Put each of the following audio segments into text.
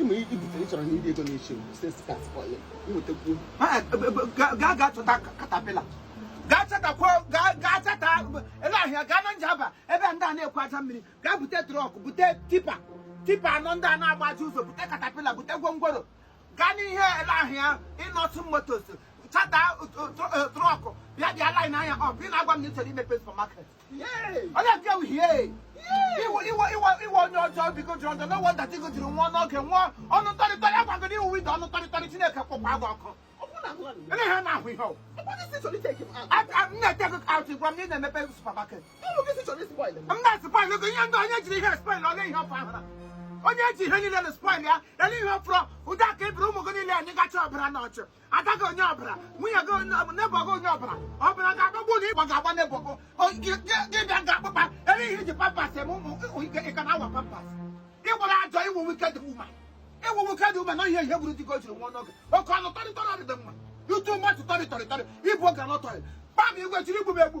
ịma ibute ị chọrọ na iri ego na-eche sesi kat kọlị nwetakwuo gaa gaa chọta katapila gaa chọtakwa gaa gaa chọta ele ahịa gaa na njaba ebe ndị a na-egwu aja mmiri gaa bute trọk bute tipa tipa anọ ndị a na-agbaji ụzọ bute katapila bute gwongworo gaa n'ihe ele ahịa Innoson motos chata trọk bịa bịa lain anya ọ bụ ị na-agwa m na ị chọrọ imepe supamaket onye nke bụ hie iwe iwe iwe iwe onye ọjọọ biko jụrụ ọjọọ n'ụwa dati go jiri nwa n'oge nwa ọnụ ntọrịtọrị agwagoro ị wụ ide ọnụ ntọrịtọrị chineke kpọkwa gị ọkụ ele ha na-ahụ ihe ọ wụ m na-take gị out gwa m na ị na-emepe supermarket m na-spoil gị ihe ndị onye jiri ihe spoil ole ihe ọfụ ahụ na onye ji ihe niile na spoil ya ele ihe ọfụrụ ụdị aka ebiri ụmụ gị niile anyị gacha ọbara n'ọchụ ada gị onye ọbara nwunye gị onye ọbara nebọ gị onye ọbara ọbara ga-agbagbu na ịgba ga-agba nebọ gị gị bịa ga-akpụkpa ebe ihe i ji pampas eme ụmụ ike ị ka na-awa pampas ị gbara ajọ ị wụ wicked woman ị wụ wicked woman na ihe ihe gburu di gị o jiri nwa ọnụ gị oke ọnụ tọrịtọrọ dị mma you too much tọrịtọrịtọrị ibu oge anọtọrị kpam igwe chiri igbu m egbu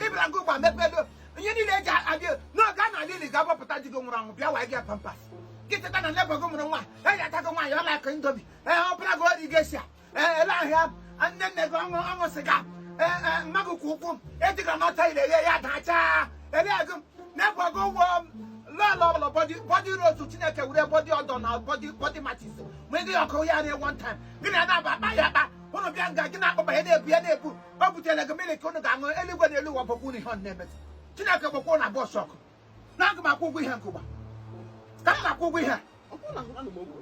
ị bịara nke ụgba mepedo ihe niile eji abịa n'oge a na ala ili ga-agbapụta di gị nwụrụ anwụ bịa wa gị pampas gị teta na nebọ gị mụrụ nwa eji ata gị nwaanyị ọla akụ indomi ee ọ bụla gị ori Geisha ee ele ahịa nne nne gị ọṅụ ọṅụ sịga ee ee mma gị kwụ ụkwụ ejiga n'ọta ire ghe ya dachaa ele gị nebọ gị ụgwọ lọlọ ọbụla bọdị bọdị rotu chineke were bọdị ọdọ na bọdị bọdị machis mụnye gị ọkụ ya na one time gị na ya na-aba akpa ya akpa ụnụ bịa nga gị na-akpọba ya na-ebu ya na-ebu o butere gị mmiri ka unu ga-aṅụ eluigwe na elu ụwa gbakwa unu ihe ọ na-emetụ chineke gbakwa na bọs ọkụ na aga m akwụ ụgwọ ihe nke ụgba ka m na-akwụ ụgwọ ihe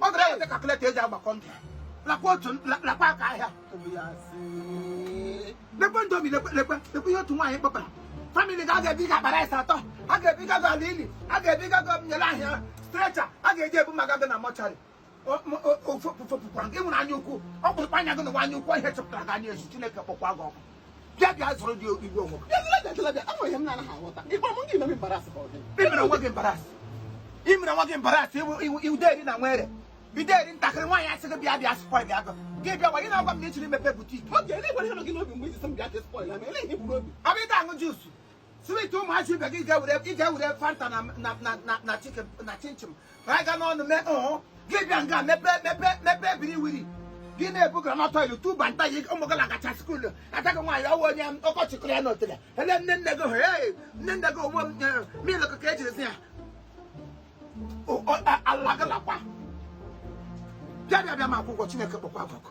ọ gara eweta kalkuleta eji agbakọ ndụ lakwa otu lakwa aka ahịa lekwe indomi lekwe lekwe lekwe ihe otu nwaanyị kpọpara famili ga aga ebiga akpara ise atọ a ga-ebiga gị ala ili a ga-ebiga gị ele ahịa strecha a ga-eji ebu maka gị na mọchari ofepụpụkwara gị nwere anya ukwu ọ bụ anya gị nụwa anya ukwu ihe chọpụtara gị anya ezu Chineke kpọkwa gị ọkụ bịa bịa zụrụ dị igwe onwe i mere nwa gị embarrass i mere nwa gị embarrass iwude eri na nwere bido eri ntakịrị nwaanyị asị gị bịa bịa spoil gị gị bịa gwa gị na-agwa m na ị chiri mepe butiki abịa ịta aṅụ juusu swit ụmụazị ibe gị ga-ewere ị ga-ewere fanta na na na na na chicken na chinchin ka anyị ga n'ọnụ mee ọhụ gị bịa nga mepe mepe mepe brewery gị na-ebu granọt oil tuba nta yi ụmụ gị lagacha skuulu ataghị nwaanyị ọ wụ onye ọkọchị kụrụ ya n'otele ele nne nne gị hụrụ ee nne nne gị ọ wụ milk ka ejiri si ya alagala kwa bịa bịa bịa m kwụọ ụgwọ chineke kpọkwa gị ọkụ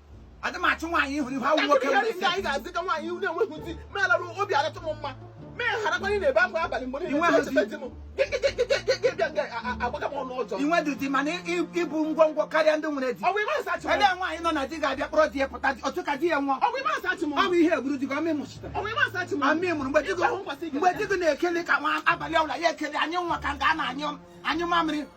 adị m achụ nwaanyị ịhụrụ ihu awụ nwoke nwere isi anyị ga-azị ka nwaanyị na-enweghị di melara obi aratụ m mma mee harakwanye na ebe akwa abalị mgbe niile na-echeta di m agbaga m ọnụ ọjọọ inwe di dị mana ịbụ ngwongwo karịa ndị nwere di ebe nwaanyị nọ na di ga-abịa kpọrọ di ya pụta otu ka di ya nwụọ ọ bụ ihe gburu di gị ọmị mụchite ọmị mụrụ mgbe di gị na-ekele ka nwa abalị ọbụla ya ekele anyị nwa ka nga a na-anyụ mamịrị